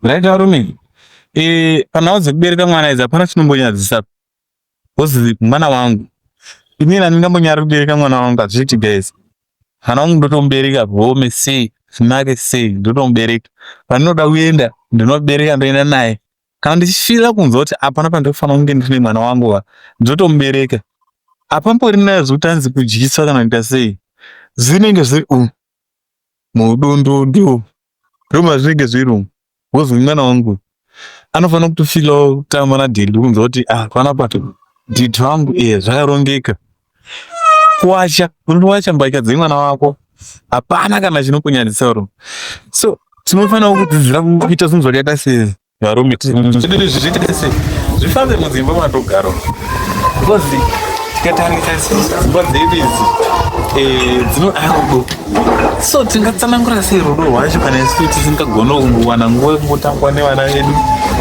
right varume eh panhau dzekubereka mwana idzi hapana chinombonyadzisa because mwana wangu ini nani ndambonyara kubereka mwana wangu hazviiti guys mwana wangu ndotomubereka home sei zvinake sei ndotomubereka pandinoda kuenda ndinobereka ndoenda naye kana ndichifira kunzwa kuti hapana pandinofanira kunge ndine mwana wangu wa ndotomubereka hapambori nayo zvekuti anzi kudyiswa kana kuita sei zvinenge zviri u mudundundu ndomazvinenge zviri umu wozwi mwana wangu anofanira kutofilawo kutamba nadhedhi kunzwa kuti ah panapa dhedhi vangu ee zvakarongeka kuwacha unowacha mbatya dzemwana wako hapana kana chinokunyadzisa ro so tinofanirawo kudzidzira kuita zvinhu zvakaita sezvi varume zvifambe mudzimba matogaro because tikatarisa dzimba dzedu idzi eh, dzinoda rudo so tingatsanangura sei rudo rwacho kana isu tisingagona kuwana nguva yekungotangwa nevana vedu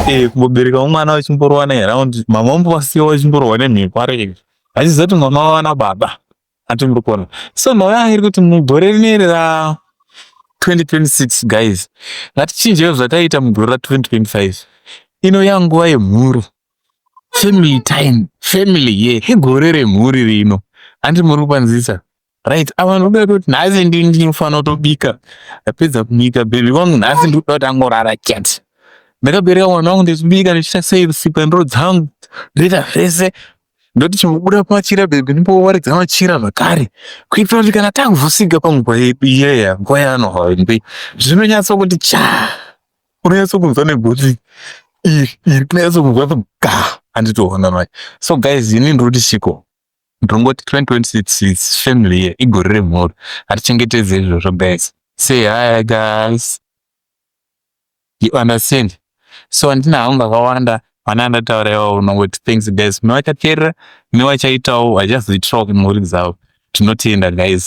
eh, kumbobereka umwana wachimborowana around mama mbovasiya wachimborowa nemhiko areke achizoti mwana wavana baba ati muri kuona so nhau yangu iri kuti mugore rineri ra 2026 guys ngatichinjewo zvataiita mugore ra 2025 ino yanguva yemhuri family time family ye yeah. igore remhuri rino handi muri kukwanzisa right ava ndoda kuti nhasi ndini ndinofanira kutobika apedza kubika bhebhi wangu nhasi ndikuda kuti angorara chete ndakabereka mwana wangu ndichibika ndichiita sei usiku ndiro dzangu ndoita zvese ndoti chimbobuda pamachira bebe ndimbowaridza machira zvakare kuitira kuti kana tavhusika panguva yedu iyeya nguva yaanohwambe zvinonyatsa kuti cha unonyatsa kunzwa negotsi iri iri kunonyatsa kunzwa ga handitoona manje so guys ini ndoti chiko ndongoti 2026 is family year igore remhuri hatichengetedze izvozvo guys say hi guys You understand so handina hangu akawanda vana ndataura iwawo unongoti thanks guys kune vachateerera kune vachaitawo vachazoitirawo kumhuri dzavo tinotenda guys.